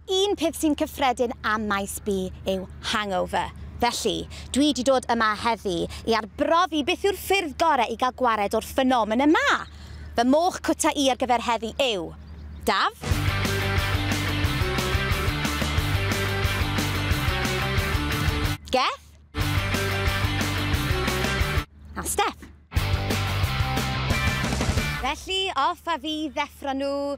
Un peth sy'n cyffredin am Maes B yw hangover. Felly, dwi 'di dod yma heddi i arbrofi beth yw'r ffyrdd gore i gael gwared o'r ffenomen yma. Fy moch cwta i ar gyfer heddi yw, Daf. Geth. A Step. Felly, off a fi i ddeffro nhw.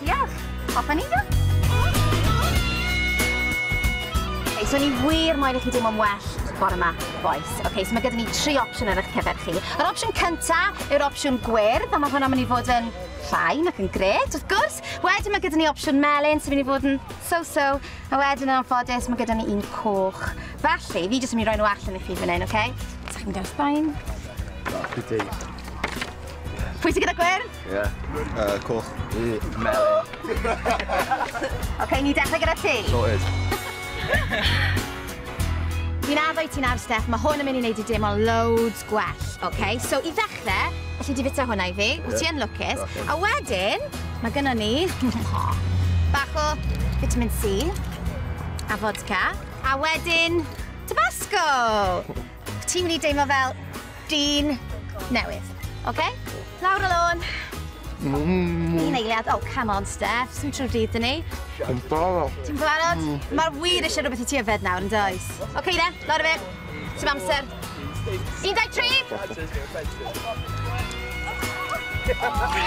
Diolch! Hoffwn i ddo! Ok, so ni wir moyn i chi deimlo'n well bore ma, bois. Ok, so mae gyda ni tri opsiwn ar eich cyfer chi. Yr opsiwn cynta yw'r opsiwn gwyrdd, a mae hwnna'n mynd i fod yn llain ac yn gred, wrth gwrs. Wedyn mae gyda ni opsiwn melyn sy'n mynd i fod yn so-so, a wedyn yn anffodus mae gyda ni un coch. Felly, fi jyst yn mynd i roi nhw allan i chi fan hyn, ok? Sa'ch chi'n mynd i'r Sbaen? Pwy sy'n gyda gwyrdd? Ie. Yy coch. Yy melyn. Oce, i ni dechre gyda ti. Sorted. Fi'n addo i ti nawr, Steff, mae hwn yn mynd i wneud i deimlo loads gwell, oce? So, i ddechrau, alli di fita hwnna i fi, yeah. ti yn lwcus. Okay. A wedyn, mae gynno ni bach o vitamin C a vodka, a wedyn Tabasco! Ti'n mynd i deimlo fel dyn newydd. Oce? Lawr y lôn. Mm. Un eiliad. Oh, come on, Steph. Sy'n trwy'r dydd, dyn ni. Yn barod. Ti'n barod? Mm. Mae'r wir eisiau rhywbeth i ti yfed nawr, yn does? Oce, okay, then. Lawr y fe. Ti'n amser. 13! Oh,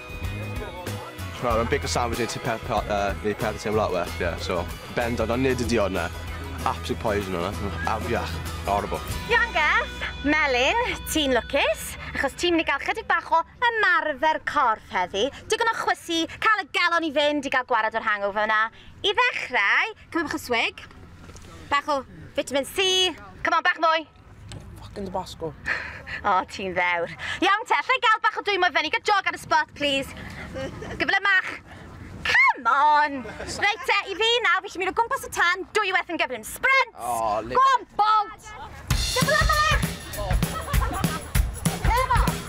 Wel ma' bacon sandwich neu tŷ peth pe- yy neu peth yn teimlo lot well ie so bendant ond nid y diod 'na. Absolute poison o' 'na. O afiach. Horrible. Iawn Geff, Melin, ti'n lwcus, achos ti'n mynd i gael chydig bach o ymarfer corff heddi, digon o chwysu, cael y galon i fynd i gael gwared o'r hangover 'na. I ddechrau, cymryd bach o swig, bach o vitamin C, come on bach mwy! Fucking Tabasco. o, oh, ti'n ddewr. Iawn te, allai gael bach o dwy mwy fyny, gael jog ar y spot, please. Gyfle mach. Come on! Reit te, i fi nawr, fi eisiau mynd o gwmpas y tan, dwy werth yn gyflym. Sprint! Oh, Go on, bolt! Gyfle mach! Come on!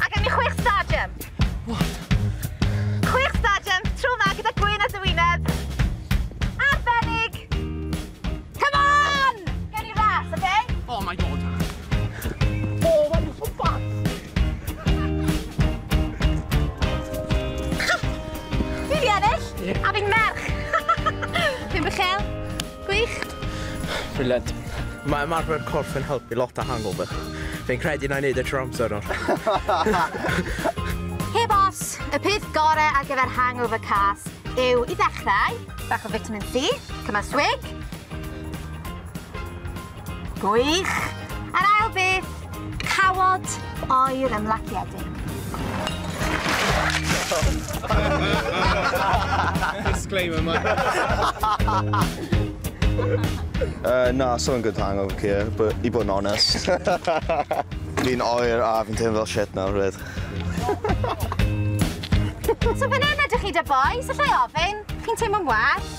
A gen i chwech stadium. What? Chwech stadium, tro ma gyda gwyn a dywyneb. Arbennig! Come on! Gen i ras, oce? Okay? Oh my god. Gwych! Brilliant. Mae ymarfer corff yn helpu lot â hangover. Fi'n credu na i wneud e trwy'r amser nawr. Hei boss! Y peth gorau ar gyfer hangover cas yw i ddechrau, bach o vitamin C, cymal swig, Gwych! A'r ail beth, cawod oer ymlaciedig. Disclaimer, man. Uh, na, so yn good hangover here, but i bod yn honest. Fi'n oer a fi'n teimlo fel shit nawr, rhaid. so fan hyn ydych chi da boys, allai ofyn, chi'n teimlo'n well?